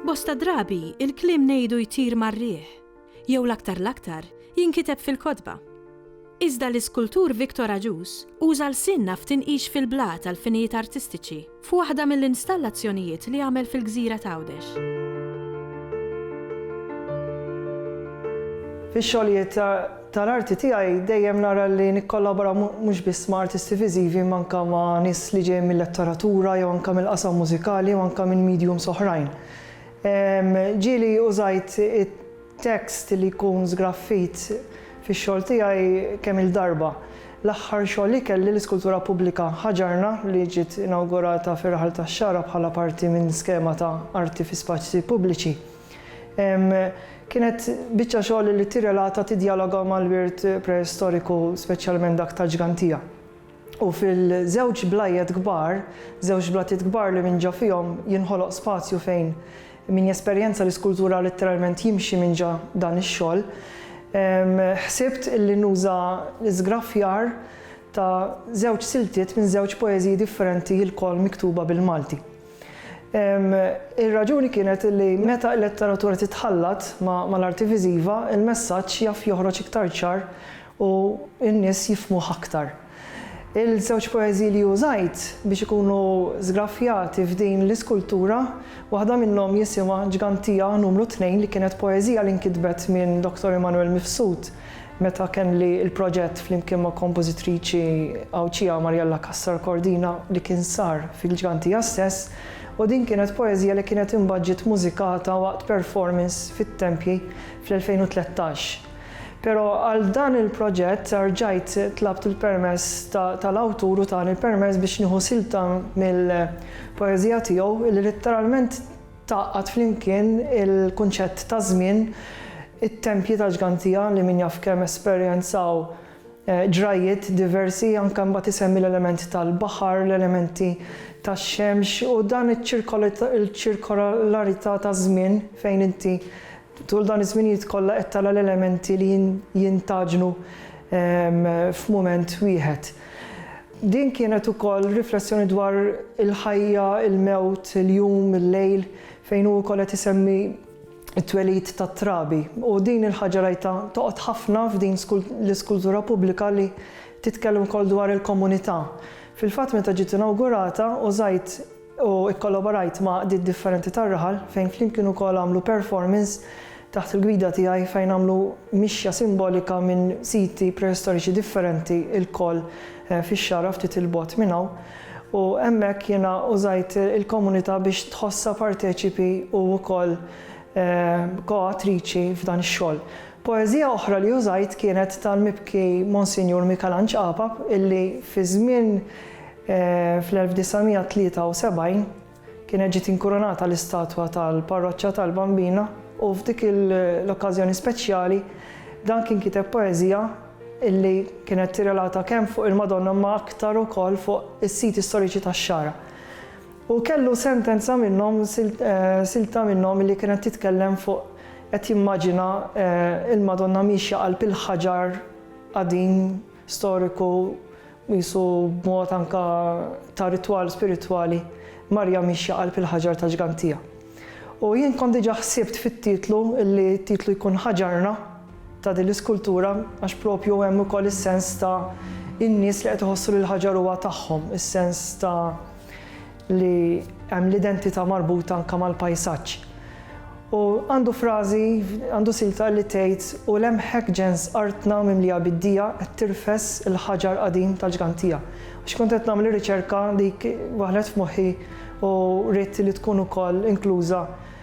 Bosta drabi, il-kliem ngħidu jtir mar-riħ. jew l-aktar l-aktar, jinkiteb fil-kotba. Iżda l-iskultur Victor Agius uża lsienna f'tinqix fil-blat għal finijiet artistiċi f'waħda mill-installazzjonijiet li għamel fil-gżira t'Għawdex. Fix-xogħlijiet tal-arti tiegħi dejjem nara li nikkollabora mhux biss ma' artisti viżivi imma anke ma' nies li ġejjin mil-letteratura jew anke mill-qasam mużikali jew anke minn mediums oħrajn. Ġieli użajt it-tekst li jkun żgraffit fix-xogħol tiegħi kemm-il darba. L-aħħar xogħol li kelli, l-iskultura pubblika Ħaġarna, li ġiet inawgurata fir-Raħal tax-Xagħra bħala parti minn skema ta' arti fi spazji pubbliċi, kienet biċċa xogħol li tirrelata, tiddjaloga mal-wirt preistoriku, speċjalment dak tal-ġgantija. u fil-żewġ blajjet kbar, żewġ blatiet kbar li minn ġo fihom jinħoloq spazju fejn min jesperjenza l-iskultura litteralment jimxi minn ġo dan ix-xogħol, ħsibt li nuża l-iżgraffjar ta' żewġ siltiet minn żewġ poeżiji differenti ilkoll miktuba bil-Malti. Ir-raġuni kienet li meta l-letteratura titħallat mal-arti viżiva, il-messaġġ jaf joħroġ iktar ċar u n-nies jifhmuh aktar. Il-żewġ poeżiji li użajt biex ikunu żgraffjati f'din l-iskultura, waħda minnhom jisimha Ġgantija Numru Tnejn li kienet poeżija li nkitbet minn Dottor Immanuel Mifsud meta kelli l-proġett flimkien ma' kompożitriċi Għawdxija Marjella Cassar Cordina li kien sar fil-Ġgantija stess u din kienet poeżija li kienet imbagħad ġiet mużikata waqt performance fit-Tempji fl-2013. Pero għal dan il-proġett rġajt tlabt il-permess tal-awtur u tani l-permess biex nieħu silta mill-poeżija tiegħu li litteralment tgħaqqad flimkien il-kunċett ta' żmien, it-tempji ta' Ġgantija li min jaf kemm esperjenzaw ġrajjiet diversi, anke mbagħad isemmi l-element tal-baħar, l-elementi tax-xemx u dan iċ-ċirkolarità taż-żmien fejn inti Tul dawn iż-żminijiet kollha qed tara l-elementi li jintgħaġnu f'mument wieħed. Din kienet ukoll riflessjoni dwar il-ħajja, il-mewt, il-jum, il-lejl, fejn hu wkoll qed isemmi t-twelid tat-trabi. U din il-ħaġa rajtha toqgħod ħafna f'din l-iskultura pubblika li titkellem ukoll dwar il-komunità. Fil-fatt meta ġiet inawgurata użajt u kkollaborajt ma' għaqdiet differenti tar-raħal fejn flimkien ukoll għamlu performance taħt il-gwida tiegħi fejn għamlu mixja simbolika minn siti preistoriċi differenti lkoll fix-Xagħra ftit 'il bogħod minn hawn u hemmhekk jiena użajt il-komunità biex tħossha parteċipi u wkoll ko-awtriċi f'dan ix-xogħol. Poeżija oħra li użajt kienet tal-mibki Monsinjur Mikalanġ Apap illi fi żmien Fl-1973 kienet ġiet inkurunata l-istatwa tal-Parroċċa tal-Bambina u f'dik l-okkażjoni speċjali dan kien kiteb poeżija illi kienet tirrelata kemm fuq il-Madonna imma aktar ukoll fuq is-siti storiċi tax-Xagħra. U kellu sentenza minnhom, silta minnhom illi kienet titkellem fuq qed jimmaġina l-Madonna miexja qalb il-ħaġar qadim storiku Qisu b'mod anke ta' ritwal spiritwali, Marija miexja qalb il-ħaġar tal-ġgantija. U jien kont diġà ħsibt fit-titlu li t-titlu jkun Ħaġarna ta' din l-iskultura għax propju hemm ukoll is-sens ta' in-nies li qed iħossu li l-ħaġar huwa tagħhom, is-sens ta' li hemm l-identità marbuta anke mal-pajsaġġ. U għandu frażi, għandu silta li tgħid u lemħek ġens artna mimlija bid-dija qed tirfes il-ħaġar qadim tal-ġgantija. Għax kont qed nagħmel ir-riċerka dik waħlet f'moħħi u ridt li tkun ukoll inkluża